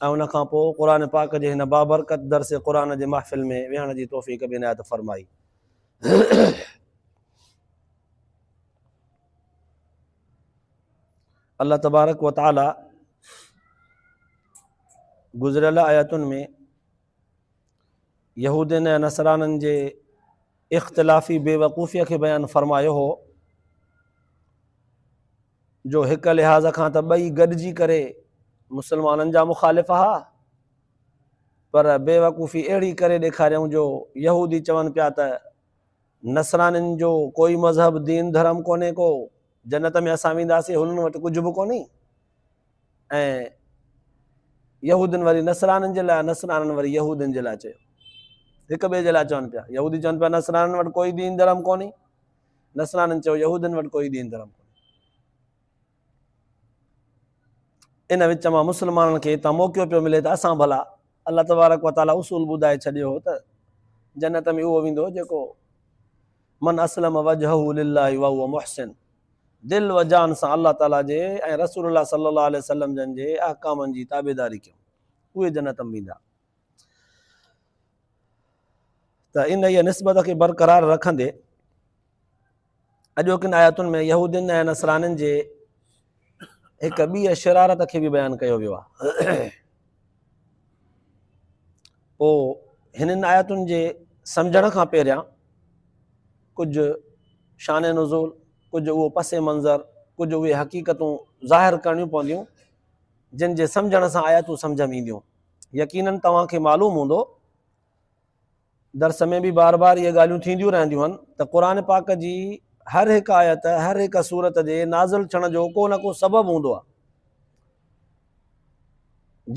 ۽ ان کان پوء قرآن پاڪ جي هن بابرڪت درس قرآن جي محفل ۾ ويهڻ جي توفيق به عنايت فرمائي. الله تبارڪ وتعاليٰ گذريل آيتن ۾ يهودين ۽ نصرانين جي اختلافي بيوقوفيء کي بيان فرمايو هو جو هڪ لحاظ کان ته ٻئي گڏجي ڪري مسلمانن جا مخالف ها پر بيوقوفي اهڙي ڪري ڏيکاريائون جو يهودي چون پيا ته نصرانين جو ڪوئي مذهب دين ڌرم ڪونهي ڪو جنت ۾ اسان وينداسين هنن وٽ ڪجهه به ڪونهي ۽ يهودين وري نصرانين جي لاء ۽ نصرانين وري يهودين جي لاء چيو. هڪ ٻئي جي لاء چون پيا. يهودي چون پيا نصرانين وٽ ڪوئي دين ڌرم ڪونهي. نصرانين چيو يهودين وٽ ڪوئي دين ڌرم ڪونهي. ان وچ مان مسلمانن کي هتان موقعو پيو ملي ته اسان ڀلا الله تبارڪ و تعاليٰ اصول ٻڌائي ڇڏيو هو ته جنت ۾ اهو ويندو جيڪو من اسلم وجهه لله وهو محسن دل و جان سان الله تعاليٰ جي ۽ رسول الله صلّي الله عليه وسلّم جن جي احڪامن جي تابعداري ڪيون اهي جنت م ويندا. ته انهيء نسبت کي برقرار رکندي اڄوڪين آياتن ۾ يهودين ۽ نصرانين جي هڪ ٻيء شرارت کي به بيان ڪيو ويو آهي. پوء هنن آيتن جي سمجهڻ کان پهريان ڪجهه شان نزول، ڪجهه اهو پس منظر، ڪجهه اهي حقيقتون ظاهر ڪرڻيون پونديون جن جي سمجهڻ سان آيتون سمجهه ۾ اينديون. يقينن توهان کي معلوم هوندو. درس ۾ به بار بار اهي ڳالهيون ٿينديون رهنديون آهن ته قرآن پاڪ جي هر هڪ آيت هر هڪ سورت جي نازل ٿيڻ جو ڪو نه ڪو سبب هوندو آهي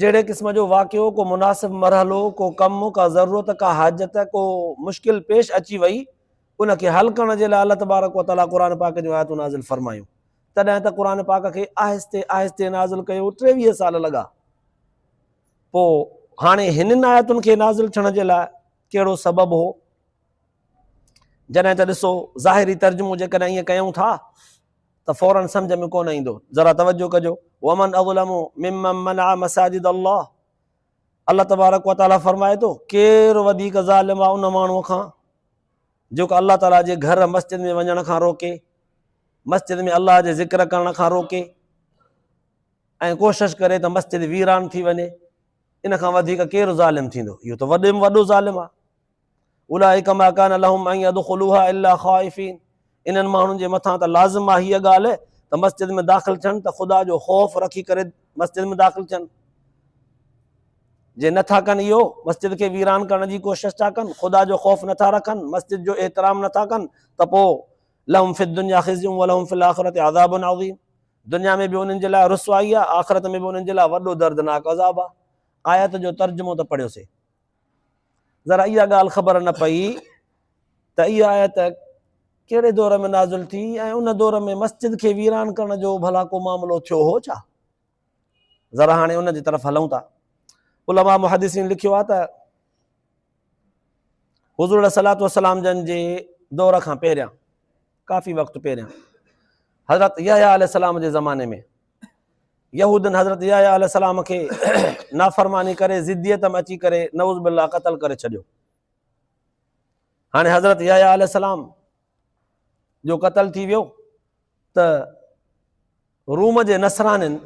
جهڙي قسم جو واقعو ڪو مناسب مرحلو ڪو ڪم ڪا ضرورت ڪا حاجت ڪو مشڪل پيش اچي وئي ان کي حل ڪرڻ جي لاء الله تبارڪ وطالٰ قرآن پاڪ جون آيتون نازل فرمايون تڏهن ته قرآن پاڪ کي آهستي آهستي نازل ڪيو ٽيويهه سال لڳا پوء هاڻي هنن آيتن کي نازل ٿيڻ جي لاء ڪهڙو سبب هو؟ جڏهن ته ڏسو ظاهري ترجمو جيڪڏهن ائين ڪيون ٿا ته فوراً سمجھ ۾ ڪونه ايندو. ذرا توجه ڪجو. ومن اظلم ممن منع مساجد الله الله تبارڪ وتعالي فرمائي ٿو ڪير وڌيڪ ظالم آ ان ماڻهو کان جيڪو الله تعالي جي گھر مسجد ۾ وڃڻ کان روڪي مسجد ۾ الله جي ذڪر ڪرڻ کان روڪي ائين ڪوشش ڪري ته مسجد ويران ٿي وڃي، ان کان وڌيڪ ڪير ظالم ٿيندو؟ اهو ته وڏي ۾ وڏو ظالم آهي. اولئک ما کان لهم ان يدخلوها الا خائفين انهن ماڻهن جي مٿان ته لازم آهي هيء ڳالهه ته مسجد ۾ داخل ٿين ته خدا جو خوف رکي ڪري مسجد ۾ داخل ٿين. جي نه ٿا ڪن اهو، مسجد کي ويران ڪرڻ جي ڪوشش ٿا ڪن، خدا جو خوف نه ٿا رکن، مسجد جو احترام نه ٿا ڪن ته پوء لهم في الدنيا خزي ولهم في الاخرة عذاب عظيم دنيا ۾ به انهن جي لاء رسوائي آ، آخرت ۾ به انهن جي لاء وڏو دردناڪ عذاب آ. آيت جو ترجمو ته پڙهيوسي. ذرا اها ڳالهه خبر نه پئي ته اها آيت ڪهڙي دور ۾ نازل ٿي ۽ ان دور ۾ مسجد کي ويران ڪرڻ جو ڀلا ڪو معاملو ٿيو هو ڇا؟ ذرا هاڻي ان جي طرف هلون ٿا. علماء محدثين لکيو آ ته. حضور عليه الصلاة والسلام جن جي دور کان پهريان ڪافي وقت پهريان حضرت يحيٰ عليه السلام جي زماني ۾ يهودن حضرت يحيٰ عليه السلام کي نافرماني ڪري ضديت ۾ اچي ڪري نعوذ بالله قتل ڪري ڇڏيو هاڻي حضرت يحيٰ عليه السلام جو قتل ٿي ويو ته روم جي نصرانين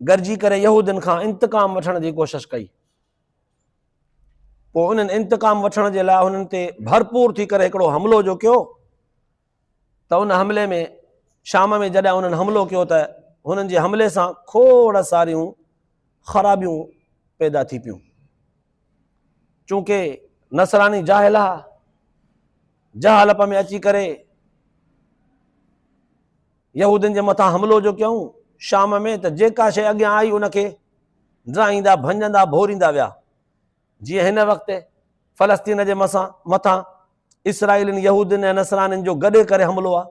گڏجي ڪري يهودين کان انتقام وٺڻ جي ڪوشش ڪئي پوء انهن انتقام وٺڻ جي لاء انهن تي ڀرپور ٿي ڪري هڪڙو حملو جو ڪيو ته ان حملي ۾ شام ۾ جڏهن انهن حملو ڪيو ته هنن جي حملي سان کوڙ ساريون خرابيون پيدا ٿي پيون چونڪه نصراني جاهل ها، جهالپ ۾ اچي ڪري يهودين جي مٿان حملو جو ڪيون شام ۾ ته جيڪا شيء اڳيان آئي ان کي ڊراهيندا ڀڃندا ڀوريندا ويا جيئن هن وقت فلسطين جي مسان مٿان اسرائيلين يهودين ۽ نصرانين جو گڏي ڪري حملو آ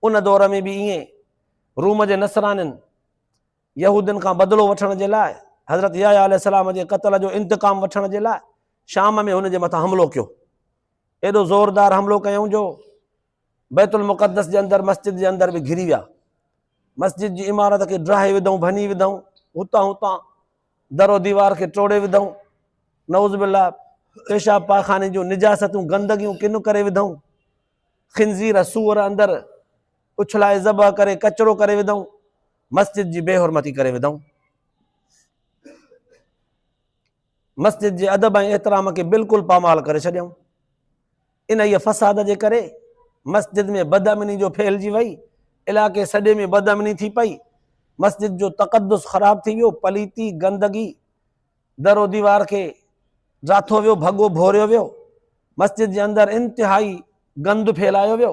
ان دور ۾ به ائين روم جي نصرانين يهودين کان بدلو وٺڻ جي لاء حضرت يحيٰ عليه السلام جي قتل جو انتقام وٺڻ جي لاء شام ۾ هن جي مٿان حملو ڪيو. ايڏو زوردار حملو ڪيائون جو بيت المقدس جي اندر مسجد جي اندر به گهري ويا. مسجد جي عمارت کي ڊاهي وڌائون، ڀڃي وڌائون، هتان هتان در و ديوار کي ٽوڙي وڌائون. نعوذ بالله پيشاب پاخاني جون نجاستون، گندگيون ڪن ڪري وڌائون. خنزير، سوئر اندر اڇلائي ذبح ڪري ڪچرو ڪري وڌائون. مسجد جي بي حرمتي ڪري وڌائون. مسجد جي ادب ۽ احترام کي بلڪل پامال ڪري ڇڏيائون. انهيء فساد جي ڪري مسجد ۾ بدامني جو ڦهلجي وئي، علائقي سڄي ۾ بدامني ٿي پئي، مسجد جو تقدس خراب ٿي ويو، پليتي، گندگي، در و ديوار کي ڊاٿو ويو، ڀڳو ڀوريو ويو، مسجد جي اندر انتهائي گند ڦهلايو ويو.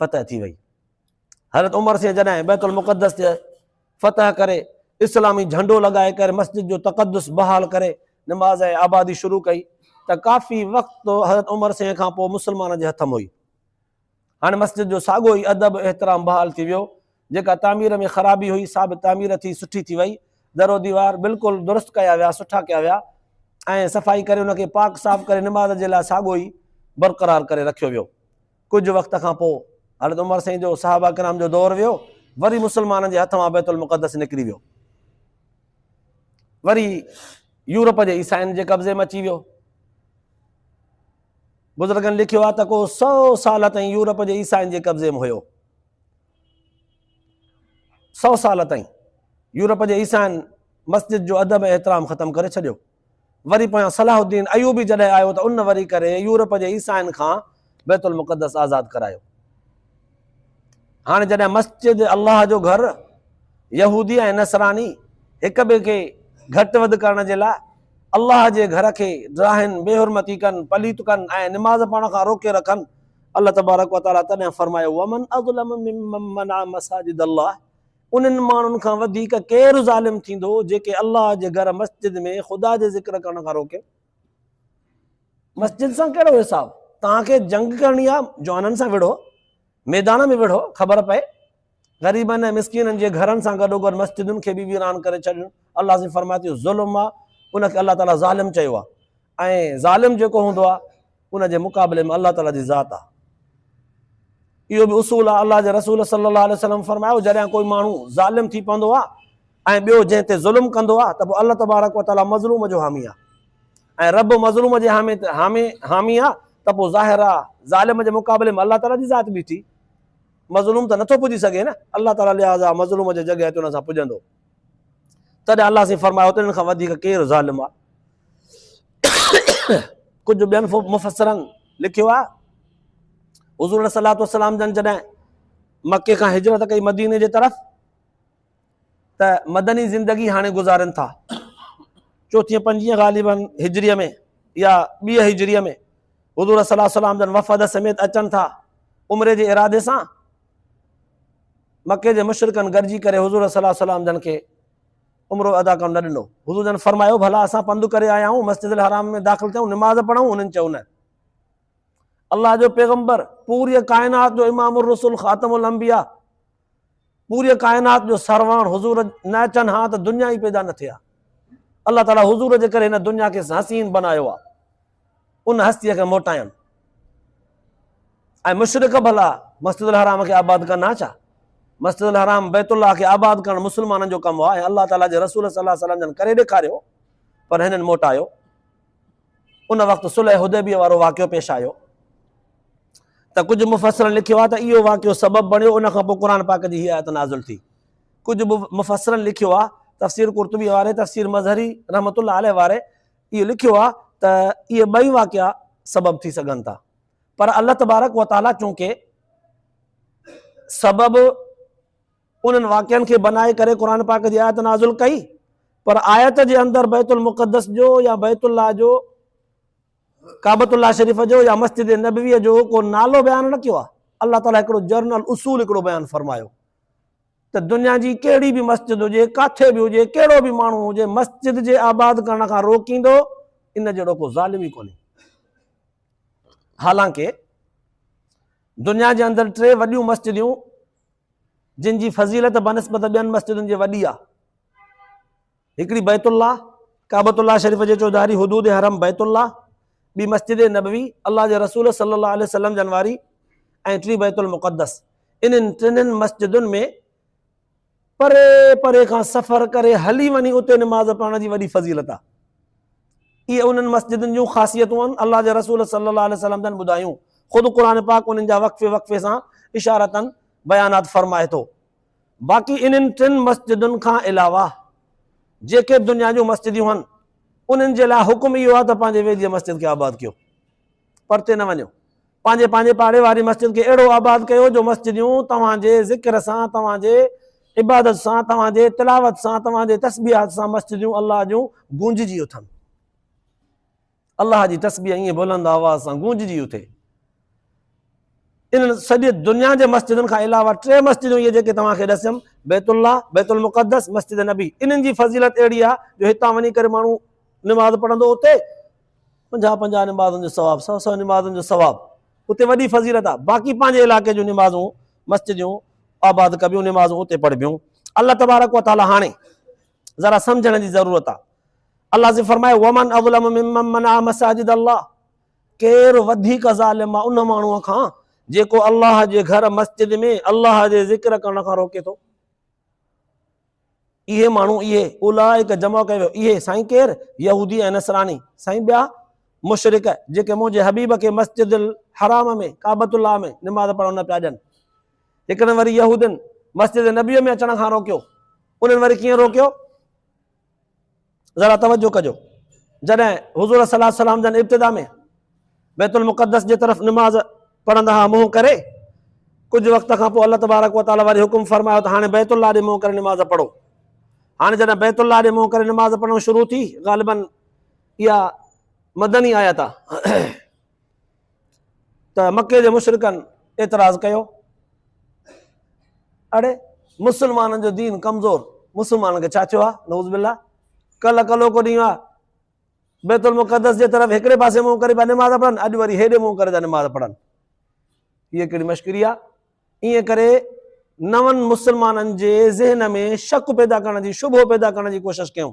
فتح ٿي وئي. حضرت عمر سين جڏهن بيت المقدس تي فتح ڪري اسلامي جهنڊو لڳائي ڪري مسجد جو تقدس بحال ڪري نماز ۽ آبادي شروع ڪئي ته ڪافي وقت حضرت عمر سين کان پوء مسلمانن جي هٿ م هئي. هاڻي مسجد جو ساڳو ئي ادب احترام بحال ٿي ويو. جيڪا تعمير ۾ خرابي هئي سا به تعمير ٿي سٺي ٿي وئي. در و ديوار بلڪل درست ڪيا ويا سٺا ڪيا ويا ۽ صفائي ڪري ان کي پاڪ صاف ڪري نماز جي لاء ساڳو ئي برقرار ڪري رکيو ويو. ڪجهه وقت کان پوء حضرت عمر سائين جو صحابه ڪرام جو دور ويو وري مسلمانن جي هٿ مان بيت المقدس نڪري ويو وري يورپ جي عيسائين جي قبضي ۾ اچي ويو بزرگن لکيو آ ته ڪو سو سال تائين يورپ جي عيسائين جي قبضي ۾ هيو سو سال تائين یورپ جي عيسائين مسجد جو ادب احترام ختم ڪري ڇڏيو وري پويان صلاح الدين ايوبي جڏهن آيو ته ان وري ڪري يورپ جي عيسائين کان بيت المقدس آزاد ڪرايو. هاڻي جڏهن مسجد الله جو گهر يهودي ۽ نصراني هڪ ٻئي کي گهٽ وڌ ڪرڻ جي لاء الله جي گهر کي ڊاهين، بي حرمتي ڪن، پليت ڪن ۽ نماز پڙهڻ کان روڪي رکن، الله تبارڪ وتعالي تڏهن فرمايو، ومن اظلم ممن منع مساجد الله، انهن ماڻهن کان وڌيڪ ڪير ظالم ٿيندو جيڪي الله جي گهر مسجد ۾ خدا جي ذڪر ڪرڻ کان روڪين؟ مسجد سان ڪهڙو حساب؟ توهان کي جنگ ڪرڻي آهي، جوانن سان وڙهو، ميدان ۾ وڙهو، خبر پئي. غريبن ۽ مسڪينن جي گهرن سان گڏوگڏ مسجدن کي به ويران ڪري ڇڏڻ الله عظيم فرمائي ٿو ظلم آهي، ان کي الله تعالي ظالم چيو آهي ۽ ظالم جيڪو هوندو آهي، ان جي مقابلي ۾ الله تعالي جي ذات آهي. اهو به اصول آهي، الله جي رسول صلي الله عليه وسلم فرمايو، جڏهن ڪوئي ماڻهو ظالم ٿي پوندو آهي ۽ ٻيو جنهن تي ظلم ڪندو آهي ته پوء الله تبارڪ وتعالي مظلوم جو حامي آهي ۽ رب مظلوم جي حامي حامي حامي آهي ته پوء ظاهر آهي ظالم جي مقابلي ۾ الله تعالي جي ذات بيٺي مظلوم ته نٿو پڄي سگهي نه الله تعالي لحاظا مظلوم جي جڳهه تي ان سان پڄندو تڏهن الله سين فرمايو ته ان کان وڌيڪ ڪير ظالم آ ڪجهه ٻين مفسرن لکيو آ حضور صلي الله عليه وسلم جن جڏهن مڪي کان هجرت ڪئي مديني جي طرف ته مدني زندگي هاڻي گذارن ٿا چوٿين پنجين غالبن هجريء ۾ يا ٻيء هجريء ۾ حضور صلي الله عليه وسلم جن وفد سميت اچن ٿا عمري جي ارادي سان مڪي جي مشرڪن گڏجي ڪري حضور صلي الله عليه وسلم جن کي عمرو ادا ڪرڻ نه ڏنو. حضور جن فرمايو، ڀلا اسان پنڌ ڪري آيا آهيون، مسجد الحرام ۾ داخل ٿيون، نماز پڙهون؟ انهن چيو، نه. الله جو پيغمبر، پوريء ڪائنات جو امام الرسل خاتم الانبياء، پوريء ڪائنات جو سرواڻ حضور نه اچن ها ته دنيا ئي پيدا نه ٿئي ها. الله تعاليٰ حضور جي ڪري هن دنيا کي حسين بنايو آهي. ان هستيء کي موٽايان ۽ مشرڪ ڀلا مسجد الحرام کي آباد ڪن ها ڇا؟ مسجد الحرام، بيت الله، کي آباد ڪرڻ مسلمانن جو ڪم هو ۽ الله تعاليٰ جي رسول صلي الله عليه وسلم جن ڪري ڏيکاريو پر هنن موٽايو. ان وقت صلح حديبيه وارو واقعو پيش آيو ته ڪجهه مفسرن لکيو آهي ته اهو واقعو سبب بڻيو ان کان پوء قرآن پاڪ جي هيء آيت نازل ٿي. ڪجهه مفسرن لکيو آهي تفسير قرطبي واري، تفسير مظهري رحمة الله عليه واري اهو لکيو آهي ته اهي ٻئي واقعا سبب ٿي سگهن ٿا پر الله تبارڪ وتعاليٰ چونڪه سبب انهن واقعن کي بنائي ڪري قرآن پاڪ جي آيت نازل ڪئي پر آيت جي اندر بيت المقدس جو يا بيت الله جو ڪابت الله شريف جو يا مسجد نبويء جو ڪو نالو بيان نه ڪيو آهي الله تعاليٰ هڪڙو جرنل اصول هڪڙو بيان فرمايو ته دنيا جي ڪهڙي به مسجد هجي، ڪاٿي به هجي، ڪهڙو به ماڻهو هجي، مسجد جي آباد ڪرڻ کان روڪيندو، ان جهڙو ڪو ظالم ئي ڪونهي. حالانڪ دنيا جي اندر ٽي وڏيون مسجديون جن جي فضيلت بنسبت ٻين مسجدن جي وڏي آهي. هڪڙي بيت الله، ڪعبت الله شريف جي چوڌاري حدود حرم بيت الله، ٻي مسجد نبوي، الله جي رسول صلي الله عليه وسلم جن واري ۽ ٽي بيت المقدس. انهن ٽنهن مسجدن ۾ پري پري کان سفر ڪري هلي وڃي اتي نماز پڙهڻ جي وڏي فضيلت آهي. اهي انهن مسجدن جون خاصيتون آهن، الله جي رسول صلي الله عليه وسلم جن ٻڌايون، خود قرآن پاڪ انهن جا وقفي وقفي سان اشارتاً بيانات فرمائي ٿو. باقي انهن ٽن مسجدن کان علاوه جيڪي دنيا جون مسجديون هن انهن جي لاء حڪم اهو آهي ته پنهنجي ويجهي مسجد کي آباد ڪيو پرتي نه وڃو پنهنجي پنهنجي پاڙي واري مسجد کي اهڙو آباد ڪيو جو مسجديون توهان جي ذڪر سان توهان جي عبادت سان توهان جي تلاوت سان توهان جي تسبيحات سان مسجديون الله جون گونججي اٿن الله جي تسبيح ائين بلند آواز سان گونججي اٿي. انهن سڄي دنيا جي مسجدن کان علاوه ٽي مسجدون اهي جيڪي توهان کي ڏسيم، بيت الله، بيت المقدس، مسجد نبي. انهن جي فضيلت اهڙي آهي جو هتان وڃي ڪري ماڻهو نماز پڙهندو اتي پنجاهه پنجاهه نمازن جو ثواب، سؤ سؤ نمازن جو ثواب. اتي وڏي فضيلت آهي. باقي پنهنجي علائقي جون نمازون مسجدون آباد ڪبيون، نمازون اتي پڙهبيون. الله تبارڪ وتعاليٰ هاڻي ذرا سمجهڻ جي ضرورت آ الله سي فرمائي ومن اظلم ممن منع مساجد الله ڪير وڌيڪ ظالم آ ان ماڻهو کان جيڪو الله جي گهر مسجد ۾ الله جي ذڪر ڪرڻ کان روڪي ٿو اهي ماڻهو اهي اولائڪ جمع ڪيو ويو اهي سائين ڪير يهودي ۽ نصراني سائين ٻيا مشرق جيڪي منهنجي حبيب کي مسجد الحرام ۾ ڪعبت الله ۾ نماز پڙهڻ نه پيا ڏين هڪڙن وري يهودين مسجد نبويء ۾ اچڻ کان روڪيو، انهن وري ڪيئن روڪيو؟ ذرا توجه ڪجو، جڏهن حضور صلي الله عليه وسلم جن ابتدا ۾ بيت المقدس جي طرف نماز پڙهندا ها منهن ڪري، ڪجهه وقت کان پوء الله تبارڪ وتعالي وري حڪم فرمايو ته هاڻي بيت الله ڏي منهن ڪري نماز پڙهو. هاڻي جڏهن بيت الله ڏي منهن ڪري نماز پڙهڻ شروع ٿي، غالباً اها مدني آيت آهي. ته مڪي جي مشرڪن اعتراض ڪيو اڙي مسلمانن جو دين ڪمزور مسلمانن کي ڇا ٿيو آهي نوز بالله ڪل ڪلو کو ڏينهن آهي بيت المقدس جي طرف هڪڙي پاسي منهن ڪري پيا نماز پڙهن اڄ وري هيڏي منهن ڪري پيا نماز پڙهن هيء ڪهڙي مشڪري آهي ائين ڪري نون مسلمانن جي ذهن ۾ شڪ پيدا ڪرڻ جي شبهو پيدا ڪرڻ جي ڪوشش ڪيون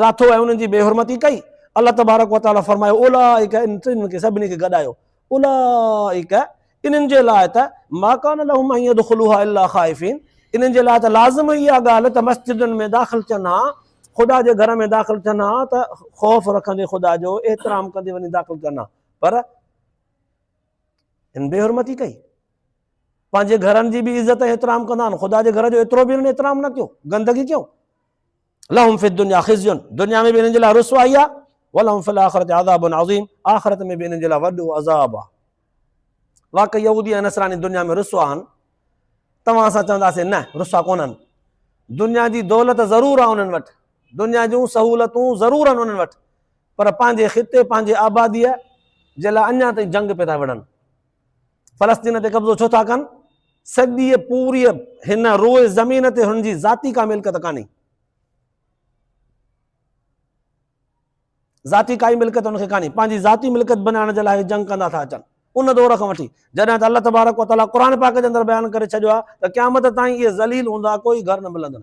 راٿو ۽ انهن جي بي حرمتي ڪئي، الله تبارڪ و تعالي فرمايو، اولئڪ ان ٽنهن کي سڀني کي گڏايو، اولئڪ انهن جي لاء ته ما ڪان لهم ان يدخلوها الا خائفين انهن جي لاء ته لازم هئي اها ڳالهه ته مسجدن ۾ داخل ٿين ها، خدا جي گهر ۾ داخل ٿين ها ته خوف رکندي خدا جو احترام ڪندي وڃي داخل ٿين ها پر هن بي حرمتي ڪئي پنهنجي گهرن جي به عزت احترام ڪندا آهن خدا جي گهر جو ايترو به هنن احترام نه ڪيو گندگي ڪيو لهم في الدنيا خزي دنيا ۾ به انهن جي لاء رسوائي آهي ولهم في الاخرة عذاب عظيم آخرت ۾ به انهن جي لاء وڏو عذاب آهي واقعي يهودي ۽ نصراني دنيا ۾ رسوا آهن توهان اسان چونداسين نه رسوا ڪونهن دنيا جي دولت ضرور آهي انهن وٽ دنيا جون سهولتون ضرور آهن انهن وٽ پر پنهنجي خطي پنهنجي آباديء جي لاء اڃا تائين جنگ پيا ٿا وڙهن فلسطين تي قبضو ڇو ٿا ڪن؟ سڄيء پوريء هن روء زمين تي هنن جي ذاتي ڪا ملڪيت ڪانهي. ذاتي ڪائي ملڪيت هنن کي ڪانهي. پنهنجي ذاتي ملڪيت بنائڻ جي لاء هي جنگ ڪندا ٿا اچن. ان دور کان وٺي، جڏهن ته الله تبارڪ و تعاليٰ قرآن پاڪ جي اندر بيان ڪري ڇڏيو آهي ته قيامت تائين اهي ذليل هوندا، ڪوئي گهر نه ملندن.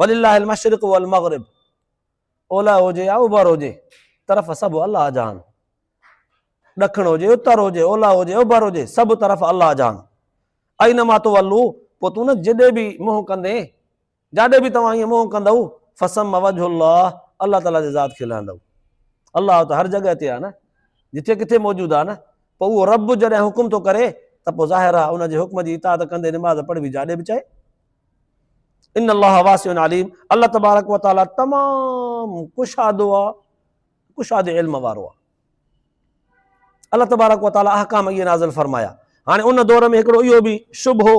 ولله المشرق والمغرب اولهه هجي يا اوڀر هجي طرف سڀ الله جهان ڏکڻ هجي اتر هجي اولهه هجي اوڀر هجي سڀ طرف الله جهان اينما تولو پوء تون نه جڏي به منهن ڪندين جاڏي به توهان ائين منهن ڪندو فسم وجه الله الله تعالي جي ذات کي لهندو الله ته هر جڳهه تي آ نه جتي ڪٿي موجود آ نه پوء اهو رب جڏهن حڪم ٿو ڪري ته پوء ظاهر آ ان جي حڪم جي اطاعت ڪندي نماز پڙهبي جاڏي به چاهي ان الله واسع عليم الله تبارڪ و تعالي تمام ڪشادو آ ڪشاد علم وارو آ الله تبارڪ و تعالي احڪام اي نازل فرمايا هاڻي ان دور ۾ هڪڙو اهو به شبهو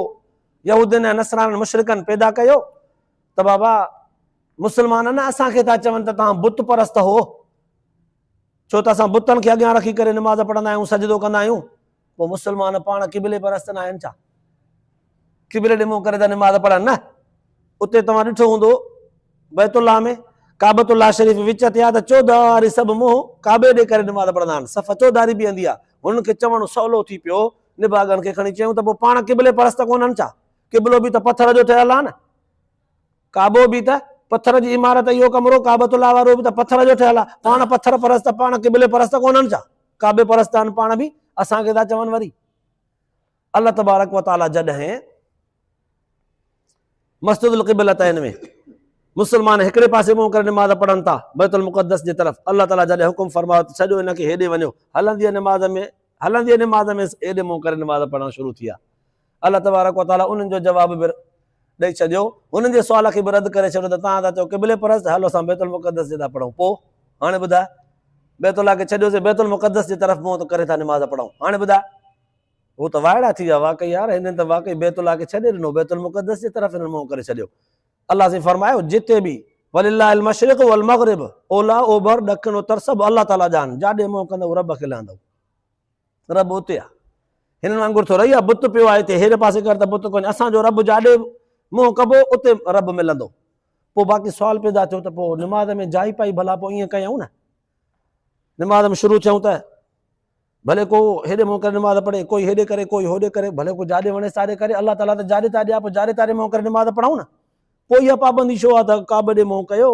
يهودين ۽ نصرانن مشرڪن پيدا ڪيو ته بابا مسلمان نه اسان کي ٿا چون ته تان بت پرست هو ڇو ته اسان بتن کي اڳيان رکي ڪري نماز پڙهندا آهيون، سجدو ڪندا آهيون، پوء مسلمان پاڻ قبلي پرست ناهن ڇا؟ قبلي ڏي منهن ڪري ته نماز پڙهن نه. اتي توهان ڏٺو هوندو بيت الله ۾ ڪعبت الله شريف وچ تي آهي ته چوڌاري واري سڀ منهن ڪعبي ڏي ڪري نماز پڙهندا آهن، صف چوڌاري بيهندي آهي. هنن کي چوڻ سولو ٿي پيو، نڀاڳن کي کڻي چيائون ته پوء پاڻ قبلي پرست ڪونهن ڇا؟ قبلو به ته پٿر جو ٺهيل آهي نه. ڪعبو به ته پٿر جي عمارت اهو ڪمرو ڪعبة الله وارو به ته پٿر جو ٺهيل آ پاڻ پٿر پرست پاڻ قبلي پرست ڪونهن ڇا ڪعبي پرست آهن پاڻ به اسان کي ٿا چون وري الله تبارڪ وتعالى جڏهن مسجد القبلت آهن ۾ مسلمان هڪڙي پاسي منهن ڪري نماز پڙهن ٿا بيت المقدس جي طرف الله تعالى جڏهن حڪم فرمايو ته ڇڏيو هن کي هيڏي وڃو هلندي نماز ۾ هلندي نماز ۾ هيڏي منهن ڪري نماز پڙهڻ شروع ٿي آ الله تبارڪ و تعالي انهن جو جواب به ڏئي ڇڏيو، انهن جي سوال کي به رد ڪري ڇڏيو ته توهان ٿا چئو قبلي پرست، هل اسان بيت المقدس جي ڏانهن پڙهون، پوء هاڻي ٻڌاء، بيت الله کي ڇڏيوسين، بيت المقدس جي طرف منهن ڪري ٿا نماز پڙهون، هاڻي ٻڌاء. هو ته وائڙا ٿي ويا، واقعي يار هنن ته واقعي بيت الله کي ڇڏي ڏنو، بيت المقدس جي طرف هنن منهن ڪري ڇڏيو. الله سائين فرمايو، جتي به، ولله المشرق والمغرب، اولهه، اوڀر، ڏکڻ، اتر سڀ الله تعالي جا آهن، جاڏي منهن ڪندئو رب کي لهندئو. رب اتي آ. هنن وانگر ٿو رهي آ بت پيو آ هتي هيڏ پاسي ڪر ته بت ڪونهي اسان جو رب جاڏي منهن ڪبو اتي رب ملندو پو باقي سوال پيدا ٿيو ته پو نماز ۾ جائي پائي ڀلا پو ائين ڪيائون نه نماز ۾ شروع ٿيون ته ڀلي ڪو هيڏي منهن ڪري نماز پڙهي ڪوئي هيڏي ڪري ڪوئي هوڏي ڪري ڀلي ڪو جاڏي وڻي ساڏي ڪري الله تعالی ته جاڏي تاڏي آ پو جاڏي تاڏي منهن ڪري نماز پڙهون نه پوء اها پابندي ڇو آهي ته ڪعبي ڏي منهن ڪيو،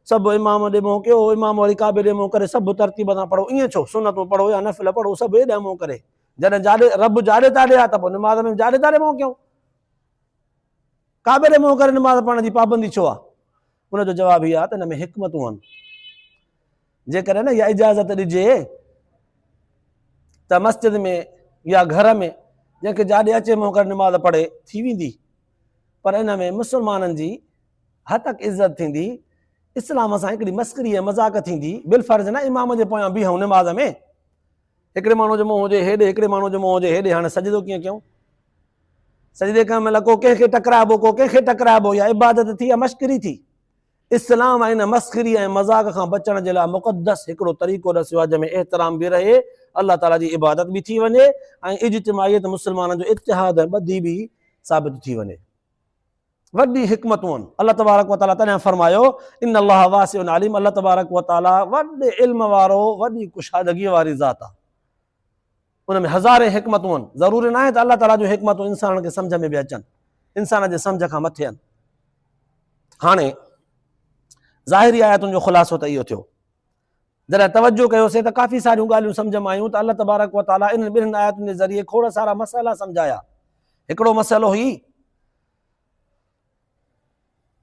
سڀ امام ڏي منهن ڪيو، امام وري ڪعبي ڏي منهن ڪري سڀ ترتيب سان پڙهو ائين ڇو؟ سنتون پڙهو يا نفل پڙهو سڀ ايڏانهن منهن ڪري. جڏهن جاڏي رب جاڏي تاڏي آهي ته پوء نماز ۾ به جاڏي تاڏي منهن ڪيون. ڪعبي ڏي منهن ڪري نماز پڙهڻ جي پابندي ڇو آهي؟ ان جو جواب هي آهي ته ان ۾ حڪمتون آهن. جيڪڏهن نه اها اجازت ڏجي ته مسجد ۾ يا گهر ۾ جنهن کي جاڏي اچي منهن ڪري نماز پڙهي ٿي ويندي پر ان ۾ مسلمانن جي هتڪ عزت ٿيندي اسلام سان هڪڙي مسڪري ۽ مذاق ٿيندي بالفرض نه امام جي پويان بيهون نماز ۾ هڪڙي ماڻهو جو منهن هجي هيڏي هڪڙي ماڻهو جو منهن هجي هيڏي هاڻي سجدو ڪيئن ڪيون سجدي ڪرڻ مهل ڪو ڪنهن کي ٽڪرائبو ڪو ڪنهن کي ٽڪرائبو يا عبادت ٿي يا مشڪري ٿي اسلام ان مسخري ۽ مذاق کان بچڻ جي لاء مقدس هڪڙو طريقو ڏسيو آهي جنهن ۾ احترام به رهي، الله تعاليٰ جي عبادت به ٿي وڃي ۽ اجتماعيت مسلمانن جو اتحاد ۽ ٻڌي به ثابت ٿي وڃي. وڏي حڪمتون الله تبارڪ وتعاليٰ تڏهن فرمايو، ان الله واسع عليم الله تبارڪ وتعاليٰ وڏي علم وارو وڏي ڪشادگيء واري ذات آهي. ان ۾ هزارين حڪمتون آهن. ضروري ناهي ته الله تعاليٰ جون حڪمتون انسانن کي سمجهه ۾ به اچن. انسان جي سمجهه کان مٿي آهن. هاڻي ظاهري آيتن جو خلاصو ته اهو ٿيو. جڏهن توجهه ڪيوسين ته ڪافي ساريون ڳالهيون سمجهه ۾ آيون ته الله تبارڪ و تعاليٰ انهن ٻنهن آيتن جي ذريعي کوڙ سارا مسئلا سمجهايا. هڪڙو مسئلو هي.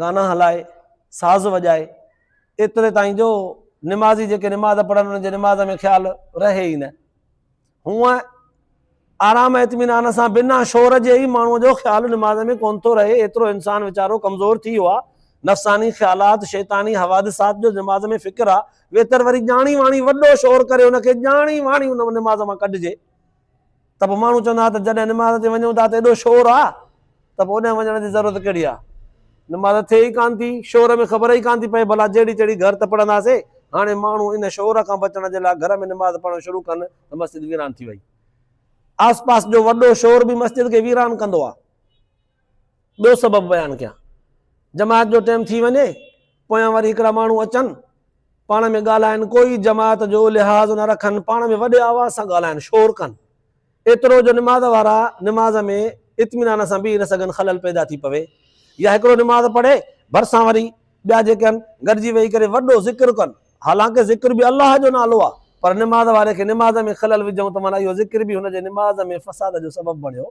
گانا هلائي ساز وڄائي ايتري تائين جو نمازي جيڪي نماز پڙهن انهن جي نماز ۾ خيال رهي ئي نه هونء آرام اطمينان سان بنا شور جي ئي ماڻهو جو خيال نماز ۾ ڪون ٿو رهي ايترو انسان ويچارو ڪمزور ٿي ويو آهي نفساني خيالات شيطاني حوادثات جو نماز ۾ فڪر آ ويتر وري ڄاڻي واڻي وڏو شور ڪري ان کي ڄاڻي واڻي ان نماز مان ڪڍجي ته پوء ماڻهو چوندا ها ته جڏهن نماز تي وڃون ٿا ته ايڏو شور آ ته پوء اوڏانهن وڃڻ جي ضرورت ڪهڙي آ. نماز ٿئي ئي ڪانه ٿي، شور ۾ خبر ئي ڪانه ٿي پئي ڀلا جهڙي تهڙي گهر ته پڙهندا سي. هاڻي ماڻهو ان شور کان بچڻ جي لاء گهر ۾ نماز پڙهڻ شروع ڪن ته مسجد ويران ٿي وئي. آس پاس جو وڏو شور به مسجد کي ويران ڪندو آ. ٻيو سبب بيان ڪيان. جماعت جو ٽيم ٿي وڃي، پويان وري هڪڙا ماڻهو اچن، پاڻ ۾ ڳالهائن، ڪوئي جماعت جو لحاظ نه رکن، پاڻ ۾ وڏي آواز سان ڳالهائن، شور ڪن، ايترو جو نماز وارا نماز ۾ اطمينان سان بيهي نه سگهن، خلل پيدا ٿي پوي. يا هڪڙو نماز پڙهي، ڀرسان وري ٻيا جيڪي آهن، گڏجي ويهي ڪري وڏو ذڪر ڪن، حالانڪه ذڪر به الله جو نالو آهي، پر نماز واري کي نماز ۾ خلل وجهون ته معنيٰ اهو ذڪر به هن جي نماز ۾ فساد جو سبب بڻيو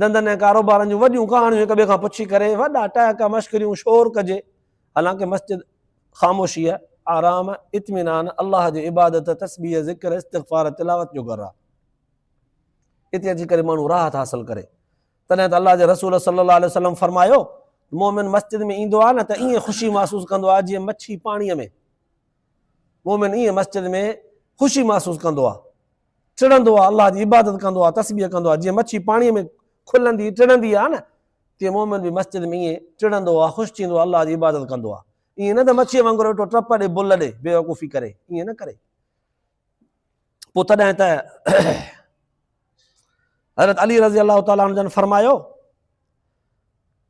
ڌنڌن ۽ ڪاروبارن جون وڏيون ڪهاڻيون هڪ ٻئي کان پڇي ڪري، وڏا ٽهڪا، مشڪريون، شور ڪجي، حالانڪه مسجد خاموشيء، آرام، اطمينان، الله جي عبادت، تسبيح، ذڪر، استغفار، تلاوت جو گهر آهي. اتي اچي ڪري ماڻهو راحت حاصل ڪري. تڏهن ته الله جي رسول صلي الله عليه وسلم فرمايو، مؤمن مسجد ۾ ايندو آهي نه ته ائين خوشي محسوس ڪندو آهي جيئن مڇي پاڻيء ۾. مؤمن ائين مسجد ۾ خوشي محسوس ڪندو آهي. ٽڙندو آهي، الله جي عبادت ڪندو آهي، تسبيح ڪندو آهي، جيئن مڇي پاڻيء ۾ کلندي ٽڙندي آهي نه، تيئن مؤمن به مسجد ۾ ائين ٽڙندو آهي، خوش ٿيندو آهي، الله جي عبادت ڪندو آهي. ائين نه ته مڇيء وانگر ويٺو ٽپ ڏي، بل ڏي، بيوقوفي ڪري، ائين نه ڪري. پوء تڏهن ته حضرت علي رضي الله تعالٰي عنه جن فرمايو،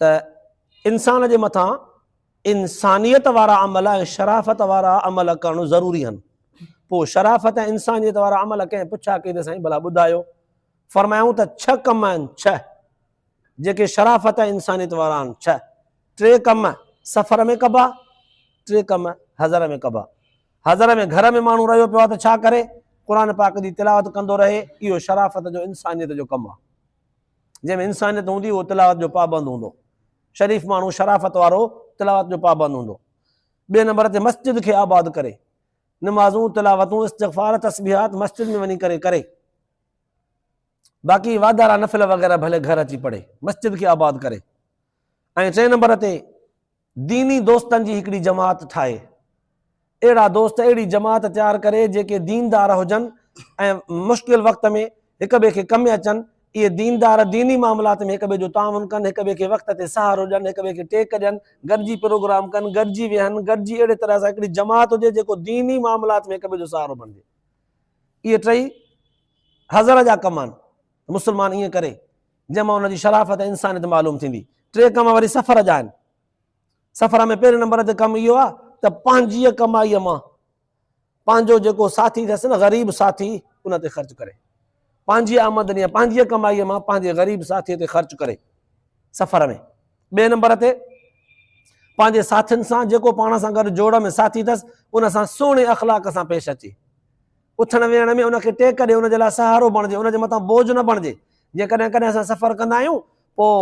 ته انسان جي مٿان انسانيت وارا عمل ۽ شرافت وارا عمل ڪرڻ ضروري آهن پوء شرافت ۽ انسانيت وارا عمل ڪنهن پڇا ڪئي ته سائين ڀلا ٻڌايو فرمايائون ته ڇهه ڪم آهن ڇهه جيڪي شرافت ۽ انسانيت وارا آهن ڇهه ٽي ڪم سفر ۾ ڪبا ٽي ڪم حضر ۾ ڪبا حضر ۾ گهر ۾ ماڻهو رهيو پيو آهي ته ڇا ڪري قرآن پاڪ جي تلاوت ڪندو رهي اهو شرافت جو انسانيت جو ڪم آهي جنهن ۾ انسانيت هوندي اهو تلاوت جو پابند هوندو، شريف ماڻهو شرافت وارو تلاوت جو پابند هوندو. ٻئي نمبر تي مسجد کي آباد ڪري، نمازون، تلاوتون، استغفار، تسبيحات مسجد ۾ وڃي ڪري ڪري. باقي واڌارا نفل وغيره ڀلي گهر اچي پڙهي، مسجد کي آباد ڪري. ۽ ٽئين نمبر تي ديني دوستن جي هڪڙي جماعت ٺاهي. اهڙا دوست اهڙي جماعت تيار ڪري جيڪي ديندار هجن ۽ مشڪل وقت ۾ هڪ ٻئي کي ڪم اچن. اهي ديندار ديني معاملات ۾ هڪ ٻئي جو تعاون ڪن، هڪ ٻئي کي وقت تي سهارو ڏين، هڪ ٻئي کي ٽيڪ ڏين، گڏجي پروگرام ڪن، گڏجي ويهن، گڏجي اهڙي طرح سان هڪڙي جماعت هجي جيڪو ديني معاملات ۾ هڪ ٻئي جو سهارو بڻجي. اهي ٽئي حضر جا ڪم آهن. مسلمان ائين ڪري. جنهن مان ان جي شرافت ۽ انسانيت معلوم ٿيندي. ٽي ڪم وري سفر جا آهن. سفر ۾ پهرين نمبر تي ڪم اهو آهي ته پنهنجيء ڪمائيء مان پنهنجو جيڪو ساٿي اٿس نه غريب ساٿي ان تي خرچ ڪري. پنهنجي آمدني يا پنهنجيء ڪمائيء مان پنهنجي غريب ساٿيء تي خرچ ڪري سفر ۾. ٻئي نمبر تي پنهنجي ساٿين سان جيڪو پاڻ سان گڏ جوڙ ۾ ساٿي اٿس ان سان سهڻي اخلاق سان پيش اچي اٿڻ ويهڻ ۾ ان کي ٽيڪ ڏي، ان جي لاء سهارو بڻجي، ان جي مٿان بوجهه نه بڻجي. جيئن ڪڏهن ڪڏهن اسان سفر ڪندا آهيون، پوء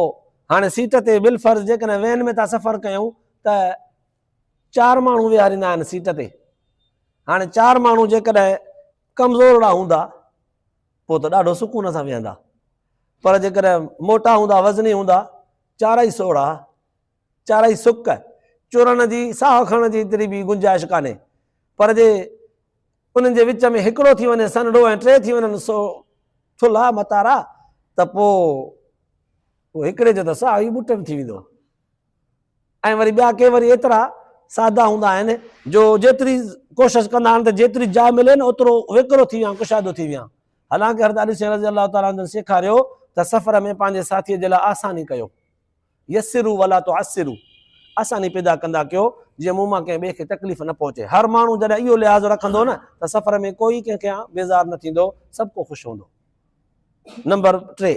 هاڻي سيٽ تي بالفرض جيڪڏهن وين ۾ ٿا سفر ڪيون ته چار ماڻهو ويهاريندا آهن سيٽ تي. هاڻي چار ماڻهو جيڪڏهن ڪمزورڙا هوندا، پوء ته ڏاڍو سڪون سان ويهندا. پر جيڪڏهن موٽا هوندا، وزني هوندا، چارئي سوڙها، چارئي سڪ، چورڻ جي ساهه کڻڻ جي ايتري به گنجائش ڪانهي، پر جي انهن جي وچ ۾ هڪڙو ٿي وڃي سنهڙو ۽ ٽي ٿي وڃن سو ٿلها متارا ته پوء اهو هڪڙي جو ته ساهه ئي ٻٽن ٿي ويندو. ۽ وري ٻيا ڪي وري ايترا سادا هوندا آهن جو جيتري ڪوشش ڪندا آهن ته جيتري جاء ملي نه اوترو ويڪرو ٿي ويهان، ڪشادو ٿي ويهان. حالانڪ حضرت علي سين رضي الله تعالٰي عنه جن سيکاريو ته سفر ۾ پنهنجي ساٿيء جي لاء آساني ڪيو. يسروا ولا تعسروا آساني پيدا ڪندا ڪيو جيئن مون مان ڪنهن ٻئي کي تڪليف نه پهچي. هر ماڻهو جڏهن اهو لحاظ رکندو نه ته سفر ۾ ڪوئي ڪنهن کان بيزار نه ٿيندو سڀ ڪو خوش هوندو. نمبر ٽي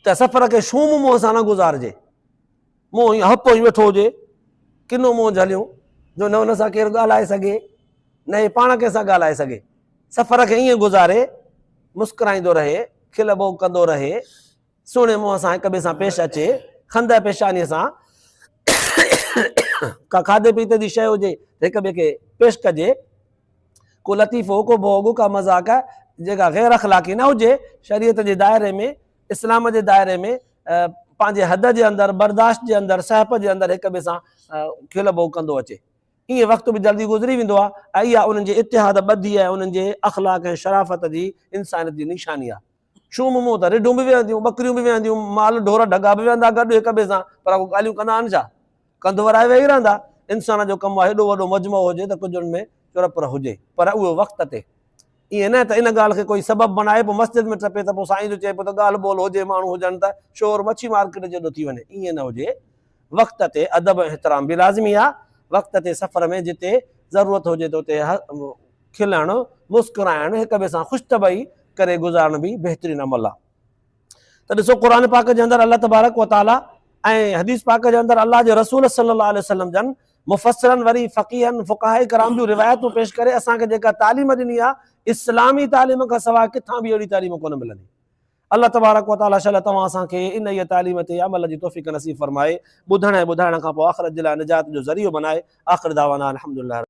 ته سفر کي شوم منهن سان نه گذارجي منهن ائين هپ ائين ويٺو هجي ڪنو منهن جهليون جو نه ان سان ڪير ڳالهائي سگهي نه هي پاڻ ڪنهن سان ڳالهائي سگهي سفر کي ائين گذاري مسڪرائيندو رهي کل ٻوڪ ڪندو رهي سهڻي منهن سان هڪ ٻئي سان پيش اچي، خندهه پيشانيء سان ڪا کاڌي پيتي جي شيء هجي ته هڪ ٻئي کي پيش ڪجي، ڪو لطيفو، ڪو ڀوڳ، ڪا مذاق جيڪا غير اخلاقي نه هجي، شريعت جي دائري ۾ اسلام جي دائري ۾ پنهنجي حد جي اندر، برداشت جي اندر، سهپ جي اندر هڪ ٻئي سان کل ڀوڳ ڪندو اچي. ايئن وقت به جلدي گذري ويندو آهي ۽ اها انهن جي اتحاد ٻڌي ۽ انهن جي اخلاق ۽ شرافت جي انسانيت جي نشاني آهي. شوم مون ته رڍون به ويهنديون، ٻڪريون به ويهنديون، مال ڍور ڍڳا به ويهندا گڏ هڪ ٻئي سان، پر اڳو ڳالهيون ڪندا آهن ڇا؟ ڪنڌ ورائي ويهي رهندا. انسان جو ڪم آهي هيڏو وڏو مجمعو هجي ته ڪجهه ان ۾ چرپر هجي، پر اهو وقت تي. ائين نه ته ان ڳالهه کي ڪوئي سبب بڻائي پوء مسجد ۾ ٽپي ته پوء سائين جو چئبو ته ڳالهه ٻولهه هجي، ماڻهو هجن ته شور مڇي مارڪيٽ جيڏو ٿي وڃي. ائين نه هجي. وقت تي ادب ۽ احترام به لازمي آهي. وقت تي سفر ۾ جتي ضرورت هجي ته اتي کلڻ، مسڪرائڻ، هڪ ٻئي سان خوش طبعي ڪري گذارڻ به بهترين عمل آهي. ته ڏسو قرآن پاڪ جي اندر الله تبارڪ و تعاليٰ ۽ حديث پاڪ جي اندر الله جي رسول صلي الله عليه وسلم جن مفسرن وري فقيهن، فقهاء ڪرام جون روايتون پيش ڪري اسان کي جيڪا تعليم ڏني آهي اسلامي تعليم کان سواء ڪٿان به اهڙي تعليم ڪونه ملندي. الله تبارڪ و تعاليٰ شل توهان اسان کي انهيء تعليم تي عمل جي توفيق نصيب فرمائي، ٻڌڻ ۽ ٻڌائڻ کان پوء آخرت جي لاء نجات جو ذريعو بنائي. آخر دعوانا الحمدلله رب.